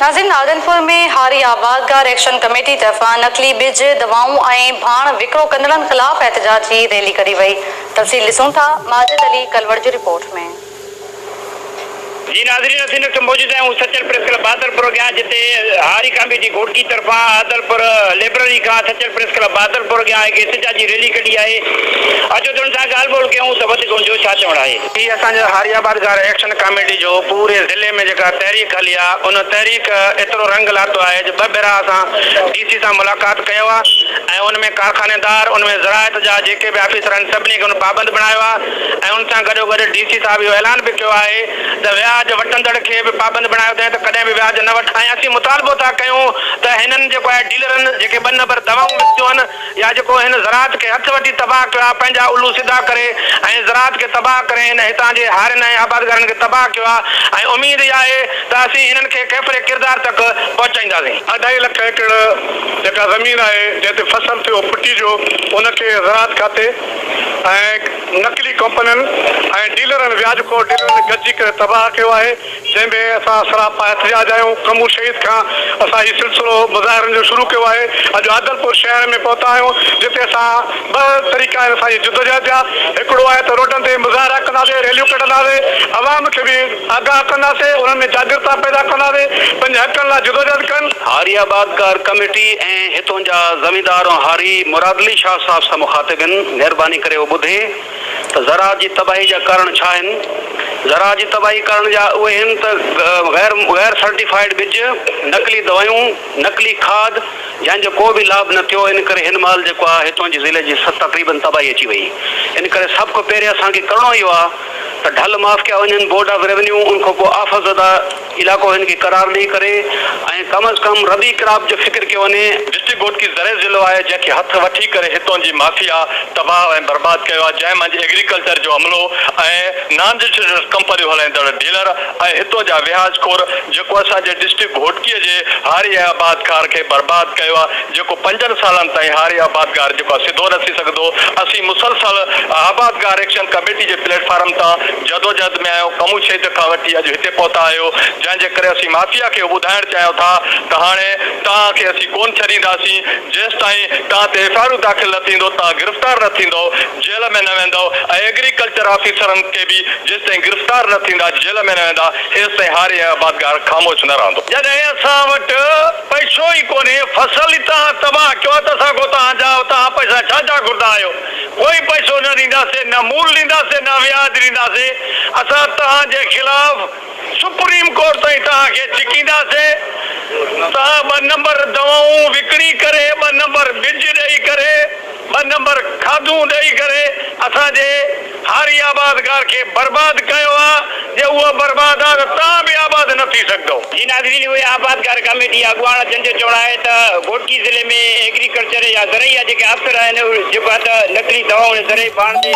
ناظرين آدنپور ۾ هاري آبادگار ايڪشن ڪميٽي طرفان نقلي ٻج، دوائون ۽ ڀاڻ وڪرو ڪندڙن خلاف احتجاجي ريلي ڪڍي وئي تفصيل ڏسون ٿا ماجد علي ڪلوڙ جي رپورٽ ۾. جي ناظرين اسين اس وقت موجود آهيون سچل پريس ڪلب بهادرپور اڳيان جتي هاري ڪاميٽي گهوٽڪي طرفان عادلپور لئبرري کان سچل پريس ڪلب بهادرپور اڳيان هڪ احتجاجي ريلي ڪڍي آهي اچو تن سان ڳالهه ٻولهه ڪيون ته وڌيڪ ان جو ڇا چوڻ آهي. هي اسان جي هاري آباد گار ايڪشن ڪاميٽي جو پوري ضلعي ۾ جيڪا تحريڪ هلي آ ان تحريڪ ايترو رنگ لاتو آهي جو ٻه ڀيرا اسان ڊي سي سان ملاقات ڪيو آ ۽ ان ۾ ڪارخانيدار ان ۾ زراعت جا جيڪي به آفيسر آهن سڀني کي ان پابند بڻايو آ ۽ ان سان گڏو گڏ ڊي سي صاحب اهو اعلان به ڪيو آهي ته وياج وٺندڙ کي به پابند بڻايو اٿائين ته ڪڏهن به وياج نه وٺ ۽ اسين مطالبو ٿا ڪيون ته هنن جيڪو آهي ڊيلرن جيڪي ٻه نمبر دوائون وڪتيون آهن يا جيڪو هن زراعت کي هٿ وٺي تباهه ڪيو آ پنهنجا الو سڌا ڪري ۽ زراعت کي تباهه ڪري هن هتان جي هارين ۽ آبادگارن کي تباهه ڪيو آ ۽ اميد اها آهي ته اسين هنن کي ڪيفر ڪردار تڪ پهچائينداسين. اڍائي لک ايڪڙ جيڪا زمين آهي جنهن تي فصل ٿيو پٽي جو ان کي زراعت کاتي ۽ نقلي ڪمپنين ۽ ڊيلرن وياج خور ڊيلرن گڏجي ڪري تباهه ڪيو آهي. جنهن ۾ اسان سراپا احتجاج آهيون ڪمور شهيد کان اسان هي سلسلو مظاهرن جو شروع ڪيو آهي اڄ عادلپور شهر ۾ پهتا آهيون جتي اسان ٻه طريقا آهن اسان جي جدوجهد جا هڪڙو آهي ته روڊن تي مظاهرا ڪنداسي ريليون ڪڍنداسي عوام کي به آگاهه ڪنداسي انهن ۾ جاڳرتا پيدا ڪنداسي پنهنجي حقن لاء جدوجهد ڪن. هاري آباد ڪار ڪميٽي ۽ هتون جا زميندار هاري مرادعلي شاهه صاحب سان مخاطب هن مهرباني ڪري اهو ٻڌي. ته زراعت جي تباهي جا ڪارڻ ڇا آهن؟ زراعت جي تباهي ڪارڻ جا اهي هن ته غير غير سرٽيفائيڊ ٻج، نقلي دوائون، نقلي کاڌ جنهن جو ڪو به لاڀ نه ٿيو ان ڪري هن مهل جيڪو آهي هتون جي ضلعي جي تقريبن تباهي اچي وئي ان ڪري سڀ کان پهرين اسان کي ڪرڻو اهو آهي ته ڍل معاف ڪيا وڃن بورڊ آف روينيو ان کان پوء آفت زده علاقو هن کي قرار ڏئي ڪري ۽ ڪم از ڪم ربي ڪراپ جو فڪر ڪيو وڃي. ڊسٽرڪٽ گوٽڪي زرعي ضلعو آهي جنهن کي هٿ وٺي ڪري هتون جي مافيا تباهه ۽ برباد ڪيو آهي جنهن منجهه ايگريڪلچر جو عملو ۽ نان رجسٽرڊ ڪمپنيون هلائيندڙ ڊيلر ۽ هتون جا وياج خور جيڪو اسان جي ڊسٽرڪٽ گهوٽڪي جي هاري ۽ آباد کار کي برباد ڪيو آهي. جيڪو پنجن سالن تائين هاري آبادگار جيڪو آهي سڌو نه ٿي سگهندو، اسين مسلسل آبادگار ايڪشن ڪميٽي جي پليٽ فارم تان جدوجهد ۾ آهيون، ڪمون ڇيڄ کان وٺي اڄ هتي پهتا آهيو، جنهن جي ڪري اسين مافيا کي اهو ٻڌائڻ چاهيون ٿا ته هاڻي توهان کي اسين ڪونه ڇڏينداسين، جيستائين توهان تي ايف آء آرون داخل نه ٿيندو، توهان گرفتار نه ٿيندؤ، جيل ۾ نه ويندؤ ۽ ايگريڪلچر آفيسرن کي به جيستائين گرفتار نه ٿيندا، جيل ۾ نه ويندا ايستائين هاري ۽ آبادگار خاموش نه رهندو. جڏهن اسان وٽ پئسو ئي ڪونهي، فصل ئي توهان تباهه ڪيو آهي ته اسان کان توهان جا توهان پئسا ڇا جا گهردا آهيو؟ ڪوئي پئسو نه ڏينداسين، نه مول ڏينداسين، نه وياج ڏينداسين، اسان توهان جي خلاف سپريم ڪورٽ تائين توهان کي ڇڪينداسين، توهان ٻه نمبر دوائون وڪڻي ڪري، ٻه نمبر ٻج ڏئي ڪري، ٻه نمبر کاڌون ڏئي ڪري اسان جي هاري آباد گار کي برباد ڪيو آ جي اهو برباد آ ته تان به آباد نه ٿي سگهندو. جي ناظرين اهي آباد گار ڪاميٽي جي اڳواڻ جن جو چوڻ آهي ته گهوٽڪي ضلعي ۾ ايگريڪلچر يا زرعي جا جيڪي آفسر آهن جيڪو آ ته نقلي دوائون ۽ زرعي باڻ تي